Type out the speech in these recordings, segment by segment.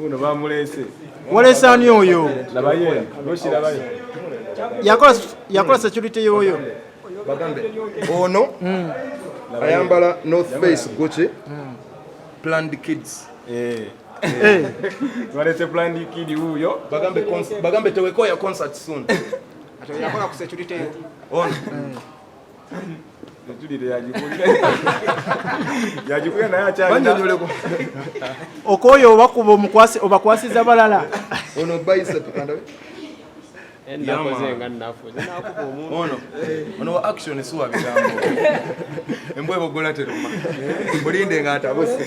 uno bamulese walese ani oyo labaye noshirabaye yakola yakola security yoyo bagambe ono mm. ayambala north face gucci mm. planned kids eh eh walese planned kid huyo bagambe bagambe tewekoya concert soon atayakola ku security ono mm. okoyo obakuba omukwasi obakwasiza balala ono bayisa tukandawe ono ono wa action suwa bigambo embwa ebogola teruma mulinde nga atabuse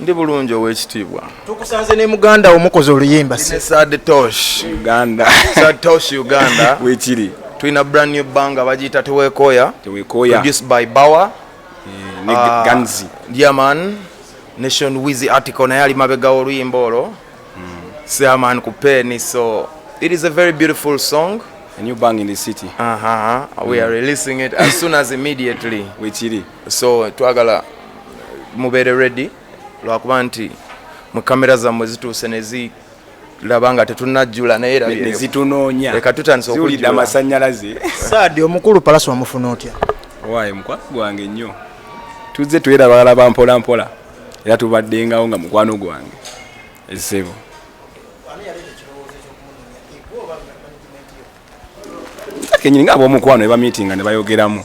Ndi bulungi ow'ekitiibwa. Tukusanze ne muganda wo mukoze oluyimba. Sad Tosh Uganda. Sad Tosh Uganda. Wekiri. Tulina brand new banga bagiyita Teweekooya. Teweekooya. Produced by Bawa. Eh, ne uh, Ganzi. Yeah man. Nation Wizzy article naye ali mabega oluyimba olwo. Hmm. Seaman ku peni so it is a very beautiful song. A new bang in the city. Uh -huh. We mm. are hmm. releasing it as soon as immediately. Wekiri. so twagala mubeere ready lwakuba nti mu kamera zammwe zituuse nezi laba nga tetunajjula naye nezitunoonya leka tutandisa okuwulidde amasanyalaze saadi omukulu palasi wamufuna otya owaye mukwano gwange nnyo tuzze twerabalaba mpola mpola era tubaddengawo nga mukwano gwange esebo kenyini nga abomukwano ebamitinga nebayogeramu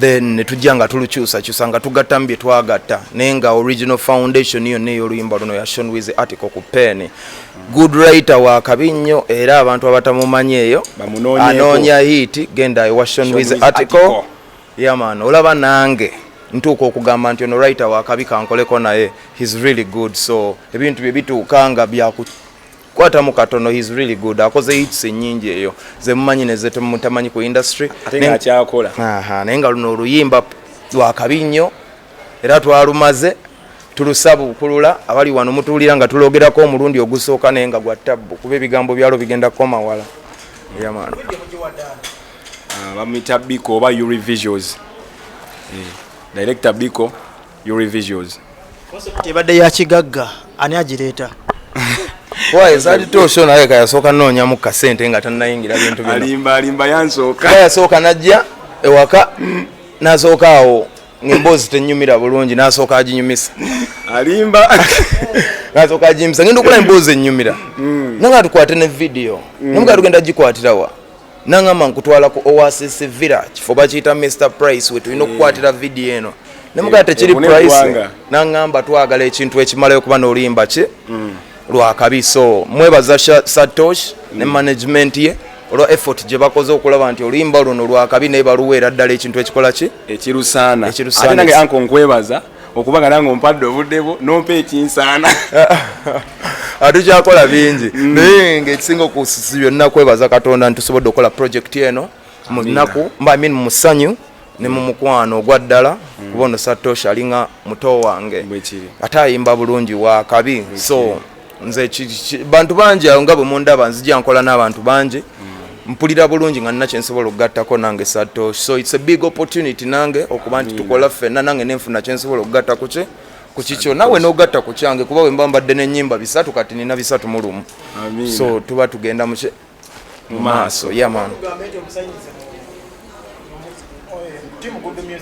then netujja nga tulukyusakyusa nga tugattamu bye twagatta naye nga original foundation yonna ey'oluyimba luno ya shon wiz article ku pen good writer wa kabi nnyo era abantu abatamumanyi eyo anoonya hiiti genda ewa shon wiz article yaman olaba nange ntuuka okugamba nti ono writer wa kabi kankoleko naye his really good so ebintu bye bituuka nga byaku kwatamu katono he's really good akoze hits nyingi eyo zemumanyi nezetemutamanyi ku industry akyakola naye nga luno oluyimba lwakabi nnyo era twalumaze tulusaba okulula abali wano mutuwulira nga tulogerako omulundi ogusooka naye nga gwa tabbu kuba ebigambo byalo bigenda kukoma wala yamano ah, bamuyita biko oba urivisuals eh, director biko Yuri Visuals. Kati ebadde ya kigagga ani agireeta? Why zali to show naye kaya soka nonya mu kasente nga tanayingira bintu bino. Alimba alimba yansoka. Kaya soka najja ewaka nasoka awo ng'emboozi tenyumira bulungi nasooka aginyumisa alimba nasooka aginyumisa ngenda okukola emboozi enyumira mm. nanga tukwate ne vidiyo mm. namuga tugenda gikwatirawa nangamba nkutwala ku oasis villa kifo bakiyita mr price wetulina eh. okukwatira vidiyo eno nemugaa eh, tekiri price nangamba twagala ekintu ekimalayo kuba nolimba ki mm. lwakabi so mwebaza satosh ne mm. management ye olwa effort gye bakoze okulaba nti oluyimba luno lwakabi naye baluweera ddala ekintu ekikola ki ekirusaana ate nange anko nkwebaza okubagala nga ompadde obudde bwo nompa ekinsaana atukyakola bingi mm. naye ngaekisinga okusi byonna kwebaza katonda nti tusobodde okukola projekiti eno mu nnaku mbamin mu musanyu ne mu mukwano ogwa ddala mm. kuba ono satosha alinga muto wange ate ayimba bulungi wakabi so nze bantu bangi awo nga bwe mundaba nzija nkola n'abantu bangi mm. mpulira bulungi nga nina kyensobola okugattako nange sato so its a big opportunity nange okuba nti tukola ffenna nange nenfuna kyensobola okugatta ku kye ku kikyo nawe nogatta ku kyange kuba wemba mbadde nenyimba bisatu kati nina bisatu mu lumu so tuba tugenda mu mu maaso yaman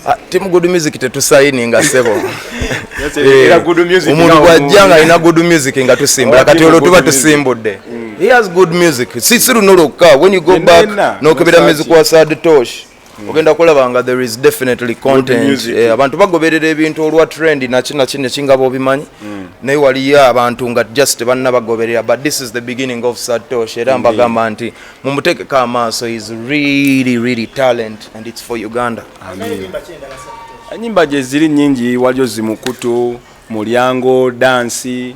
ah, timu good music tetusayininga sebo eh, omuntu bwajja nga alina good music nga tusimbula kati olwo tuba tusimbudde mm. he has good music si si luno lwokka when you go back nokebera music wa sad tosh Mm. ogenda kulaba nga there is definitely content eh, abantu bagoberera ebintu olwa trend nakinaki nekingaba obimanyi mm. naye waliyo abantu nga just banna bagoberera but this is the beginning of satosh era mbagamba nti mumutekeko amaaso is really really talent and it's for uganda enyimba gyeziri nyingi waliyo zimukutu mulyango dansi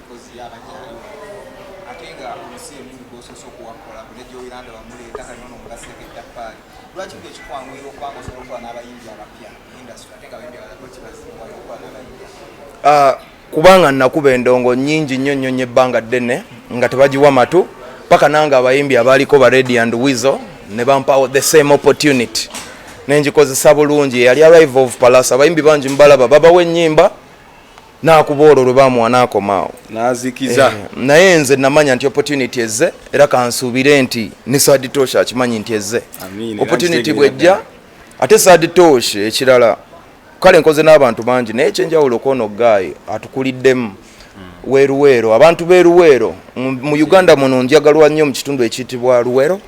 ah, kubanga nakuba endongo nyingi nnyo nnyo nnyo ebbanga ddene nga tebagiwa matu paka nange abayimbi abaaliko ba redi and wizo ne bampawo the same opportunity nengikozesa bulungi eyali arrive of palas abayimbi bangi mubalaba babawa ennyimba nakuba olwo lwe bamuwa nakoma awo nazikiza eh, naye nze namanya nti opportunity ezze era kansuubire nti ne saadi tosha akimanyi nti ezze opportunity bwejja ate saadi tosha ekirala kale nkoze n'abantu bangi naye ekyenjawulo kwono gaayi atukuliddemu hmm. weruweero abantu beruweero mu uganda muno njagalwa nnyo mu kitundu ekiyitibwa luweero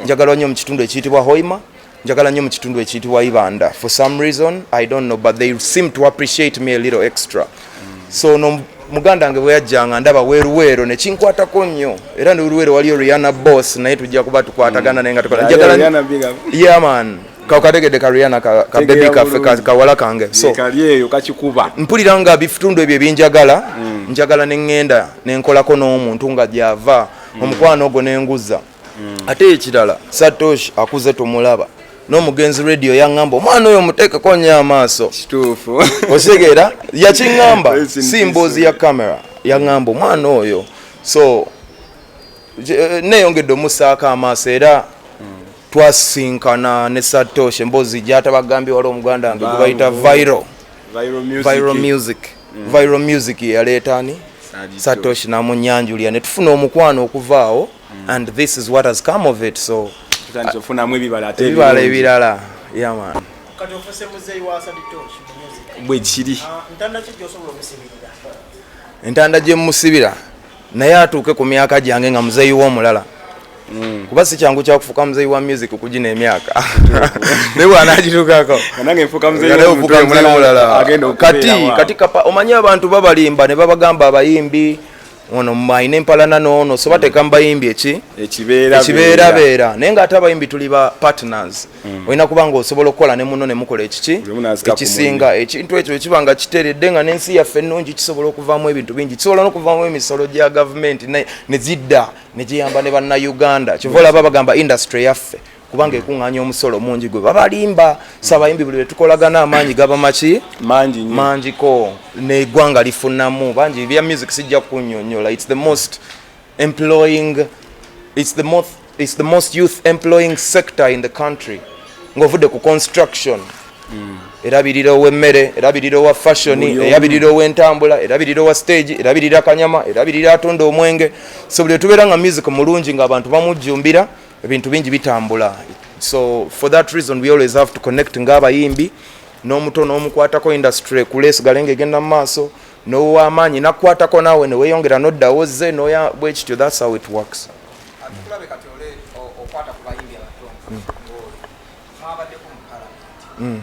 njagalwa nnyo mu kitundu ekiyitibwa hoima njagala nnyo mu kitundu ekiyitibwa ibanda for some reason i don't know but they seem to appreciate me a little extra so no muganda wange bwe yajjanga ndaba weruweero ne kinkwatako nnyo era ne weruweero waliyo riana boss naye tujja kuba tukwatagana naye nga tukola njagala yeah man kategede ka riana ka, ka baby kafe ka, kawala kange so kalyeyo kakikuba mpulira nga bifutundu ebyo ebinjagala mm. njagala ne ngenda ne nkolako n'omuntu nga gyava mm. omukwano ogwo ne nguza mm. ate ekirala satoshi akuze tumulaba n'omugenzi radio yaŋŋamba omwana oyo muteekeko nnyo amaaso kituufu otegeera yakiŋŋamba si mboozi ya kamera yaŋŋamba omwana oyo so eh, neyongedde omusaako amaaso era twasinkana ne satoshi emboozi gyatabagambye wali omuganda nge gwebayita viro viro music viro music mm. yeyaleeta ani satoshi namunyanjulira netufuna omukwano okuvaawo mm. and this is what has come of it so tutandifunamu ebibala ate ebibala ebirala yeah man kati ofuse muzeyi wa saditosh bwe kiri ah, ntanda ki gyosobola okusibirira entanda gye musibira naye atuuke ku myaka gyange nga muzeeyi w'omulala mm. kuba si kyangu kyakufuuka muzeeyi wa music kugina emyaka naye bwanagituukako kati kapa omanyi abantu babalimba ne babagamba abayimbi ono mwaine empalana noono so bateka mubayimbi eki ekibeera beera naye nga ate abayimbi tuli ba partners mm. olina kuba nga osobola okukola ne muno nemukola ekiki ekisinga ekintu ekyo ekiba nga kiteredde nga nensi yaffe ennungi kisobola okuvamu ebintu bingi kisobola nokuvamu emisolo gya gavumenti nezidda negiyamba ne bannauganda kyova olaba bagamba industry yaffe kubanga ekuŋŋaanya omusolo mungi gwe babalimba sabayimbi buli lwetukolagana amaanyi gaba maki mangiko negwanga lifunamu bangi bya music sijja kunyonyola its the most employing its the most, it's the most youth employing sector in the country ng'ovudde ku construction mm. erabirira owemmere erabirira owa fashion erabirira owentambula erabirira owa stage erabirira kanyama erabirira atunda omwenge so buli lwetubeera nga music mulungi ng'abantu bamujjumbira ebintu bingi bitambula so for that reason we always have to connect ng'abayimbi n'omuto n'omukwatako industry ekule esigale nga egenda mu maaso n'owamaanyi nakukwatako naawe ne weeyongera n'oddawo ozze noya bwe kityo that's how it works Mm.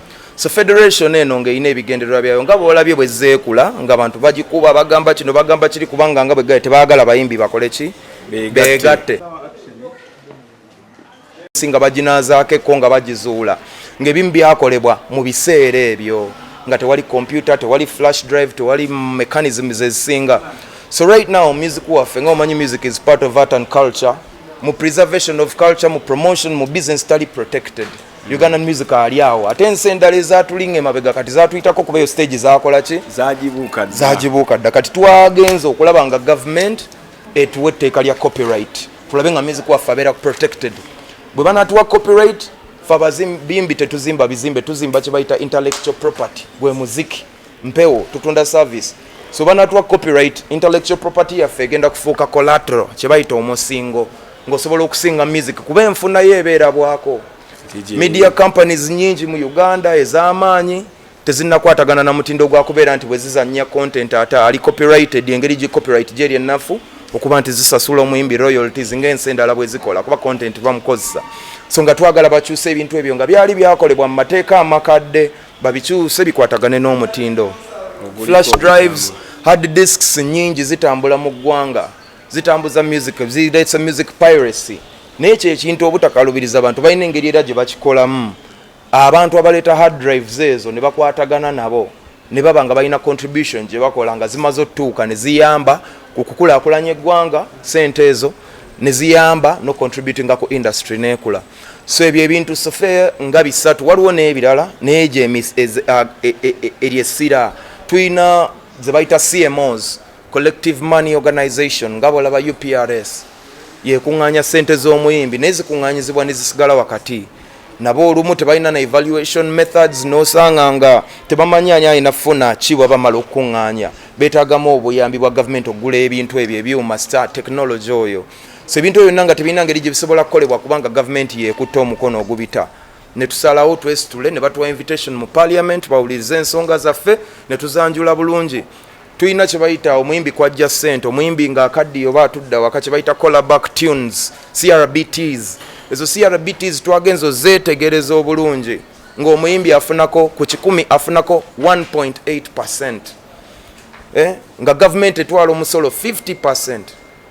so federation eno ng'erina ebigendererwa byayo nga bwolabye bwe zeekula nga bantu bagikuba bagamba kino bagamba kiri kubanga nga bwegaye tebaagala bayimbi bakole ki beegatte nga baginazaako ekko nga bagizuula ng'ebimu byakolebwa mu biseera ebyo nga tewali computer tewali flash drive tewali mechanisms ezisinga so right now music waffe nga omanyi music is part of art and culture mu preservation of culture mu promotion mu business tali protected Ugandan music ali awo ate ensi endala ezatulinga emabega kati zatuyitako kuba eyo stage zakola ki zagibuuka dda kati twagenza okulaba nga government etuwa etteeka lya copyright tulabe nga music waffe abeera protected bwe banatuwa copyright fe abazimbi tetuzimba bizimbe tuzimba kyebayita intellectual property gwe muziki mpewo tutunda service so banatuwa copyright intellectual property yaffe egenda kufuuka collateral kyebayita omusingo ngaosobola okusinga music kuba enfunayo ebeera bwako media companies nyingi mu uganda ez'amaanyi tezinakwatagana na mutindo gwakubeera nti bwezizanya content ate ali copyrighted engeri gi copyright gyeri ennafu okuba nti zisasula omuyimbi royalties ngaensi endala bwezikola kuba content bamukozesa so nga twagala bakyusa ebintu ebyo nga byali byakolebwa mu mateeka amakadde babikyuse bikwatagane n'omutindo flash drives hard disks nyingi zitambula mu ggwanga zitambuza music zireetsa music piracy naye ekyo ekintu obutakalubiriza abantu balina engeri era gye bakikolamu abantu abaleeta hard drives ezo ne bakwatagana nabo ne baba nga balina contribution gye bakola nga zimaze otutuuka ne ziyamba ku kukulaakulanya eggwanga sente ezo ne ziyamba nocontributinga ku industry neekula so ebyo ebintu sofe nga bisatu waliwo n'ebirala naye gyo e, e, e, eryo essira tulina ze bayita cmos collective money organization nga bolaba uprs yekuŋŋaanya sente z'omuyimbi naye zikuŋŋaanyizibwa ne zisigala wakati nabo olumu tebalina na evaluation methods nosanga nga tebamanyi ani alina funa ki bwabamala okukuŋŋaanya beetagamu obuyambi bwa gavumenti okugula ebintu ebyo ebyuma star technology oyo so ebintu ebyo byonna nga tebirina ngeri gye bisobola kukolebwa kubanga gavumenti yeekutte omukono ogubita ne tusalawo twesitule ne batuwa invitation mu parliament bawulirize ensonga zaffe ne tuzanjula bulungi tulina kye bayita omuyimbi kwajja ssente omuyimbi ng'akaddiyo oba atudda waka kye bayita collaback tunes crbts ezo crbts twagenza ozeetegereza obulungi ng'omuyimbi afunako ku kikumi afunako 1.8 percent eh? nga gavumenti etwala omusolo 50 percent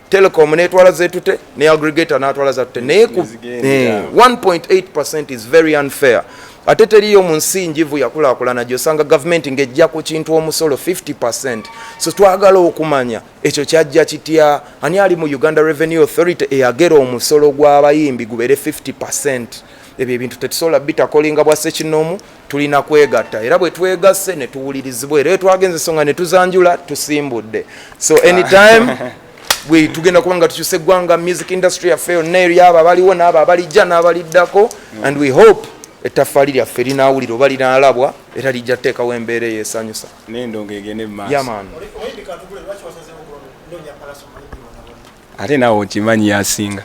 telecom netwala zetute ne aggregator natwala zatute naye ku 1.8 eh, is very unfair ate teriyo mu nsi njivu yakulakulana gyosanga gavumenti ng'ejja ku kintu omusolo 50 so twagala okumanya ekyo kyajja kitya ani ali mu uganda revenue authority eyagera omusolo gw'abayimbi gubeere 50 ebyo ebintu tetusobola bitakolinga bwa sekinoomu tulina kwegatta era bwe twegasse ne tuwulirizibwa era etwagenza esonga ne tuzanjula tusimbudde so anytime bwe tugenda kuba nga tukyusa eggwanga music industry yaffe yonna eri abo abaliwo n'abo abalijja n'abaliddako mm. and we hope ettaffaali lyaffe linaawulira oba linaalabwa era lijja teekawo embeera eyo esanyusa nendongo egende mumaasoyaman ate naawe okimanyi yasinga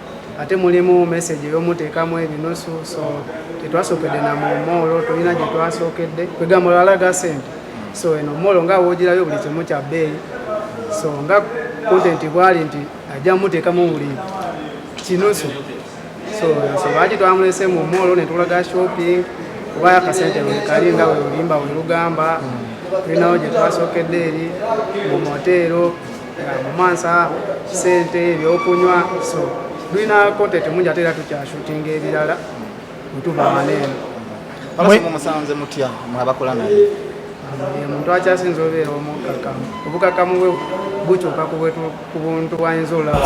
ate mulimu message ey'omuteekamu ebinusu so tetwasookedde na mu moolo tulina gye twasookedde kwegamba olalaga sente so eno moolo nga woogirayo buli kimu kya bbeeyi so nga kontenti bwali nti ajja muteekamu buli kinusu so so lwaki twamulese mu moolo ne tulaga shopping kuba akasente wekali nga welulimba welugamba tulinawo gye twasookedde eri mu moteero mumansa sente ebyokunywa so tulina content mungi ate era tukyashutinga ebirala mutuva maneeno musanze mutya mwabakola naye omuntu akyasinza obeera omukakamu obukakamu bwe bukyuka ku buntu bwayinza olaba